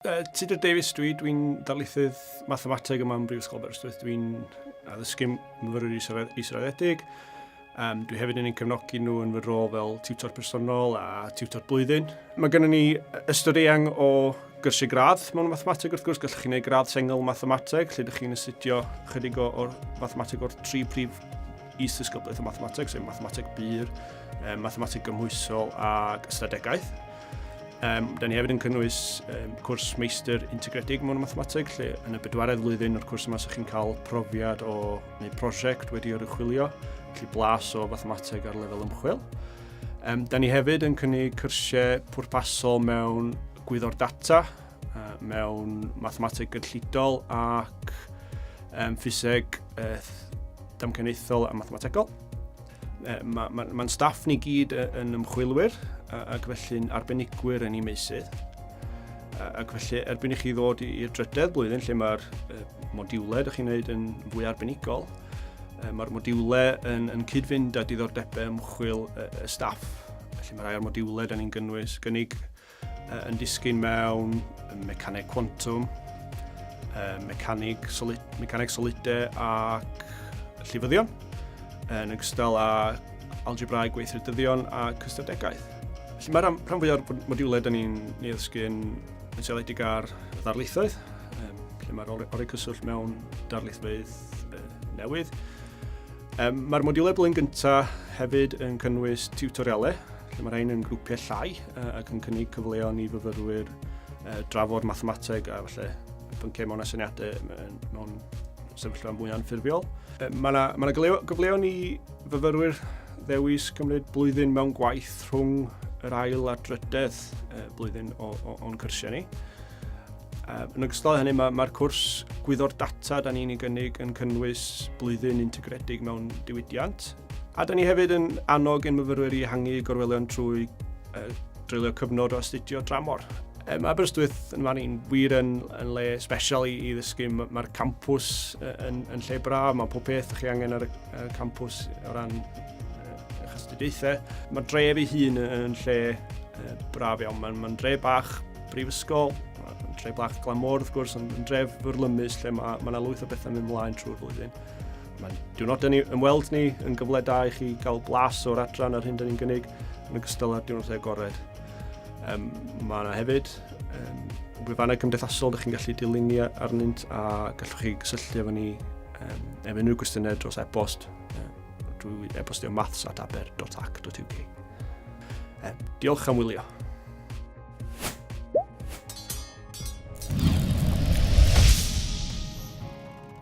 Uh, Tudur Davies dwi, dwi'n darlithydd mathemateg yma yn Brifysgol Aberystwyth. Dwi'n addysgu myfyrwyr israddedig. Um, dwi hefyd yn ein cefnogi nhw yn fy rôl fel tiwtor personol a tiwtor blwyddyn. Mae gennym ni ystod eang o gyrsiau gradd mewn mathemateg wrth gwrs. Gallwch chi wneud gradd sengl mathemateg lle ydych chi'n astudio chydig o'r mathemateg o'r tri prif is ddisgyblaeth o mathemateg, sef mathemateg bur, mathemateg gymhwysol ac ystadegaeth. Um, da ni hefyd yn cynnwys um, cwrs meistr integredig mewn mathemateg, lle yn y bedwaredd flwyddyn o'r cwrs yma sy'ch chi'n cael profiad o neu prosiect wedi oruchwilio, felly blas o fathemateg ar lefel ymchwil. Um, da ni hefyd yn cynnig cyrsiau pwrpasol mewn gwyddor data, uh, mewn mathemateg gynllidol ac um, ffiseg uh, damcaniaethol a mathemategol. Mae'n ma, ma staff ni gyd yn ymchwilwyr ac felly'n arbenigwyr yn ei meysydd. Ac felly, erbyn i chi ddod i'r drydedd blwyddyn lle mae'r modiwlau ydych chi'n gwneud yn fwy arbenigol, mae'r modiwlau yn, yn cyd-fynd â diddordebau ymchwil y staff. Felly mae rhai o'r modiwlau da ni'n gynnwys, gynnig yn disgyn mewn mecaneg cwantwm, mecanig, solid, mecaneg solidau ac llifyddion, yn ogystal â algebrau gweithredyddion a cystadegaeth. Felly mae'r rhan fwyaf o'r modiwlau da ni'n ei ddysgu'n yn seiliedig ar ddarlithoedd, lle mae'r orau cyswllt mewn darlithfeydd newydd. Mae'r modiwlau blwyddyn gyntaf hefyd yn cynnwys tiwtorialau, lle mae rhain yn grwpiau llai, ac yn cynnig cyfleon i fyfyrwyr drafod mathemateg a falle pynciau mewn asyniadau mewn sefyllfa mwy anffurfiol. Mae yna ma gyfleon i fyfyrwyr ddewis cymryd blwyddyn mewn gwaith rhwng yr ail a drydedd blwyddyn o'n cyrsiau ni. Yn ogystal hynny, mae'r ma cwrs gwyddo'r data da ni'n ei gynnig yn cynnwys blwyddyn integredig mewn diwydiant, A da ni hefyd yn annog ein myfyrwyr i ehangu gorwelion trwy uh, dreulio cyfnod o astudio dramor. Um, Aberystwyth yn fan i'n wir yn, yn le special i, i ddysgu. Mae'r campws yn, yn lle braf, mae pob peth chi angen ar y, y campws o ran eich astudiaethau. Mae'r dref ei hun yn lle uh, braf iawn. Mae'n ma dre bach brifysgol, mae'n dre bach glamor wrth gwrs, ond yn dref fyrlymus lle mae yna ma lwyth o bethau mynd mlaen trwy'r flwyddyn. Mae diwrnodau ni ymweld ni yn gyfle da i chi gael blas o'r adran a'r hyn dyn ni'n gynnig yn ogystal â'r diwrnodau agored. Um, mae yna hefyd um, gwefannau cymdeithasol ydych chi'n gallu dilyn ni arnynt a gallwch chi gysylltu efo ni um, efo unrhyw gwestiynau dros e-bost um, drwy e-bostio maths at aber.ac.uk. Um, diolch am wylio.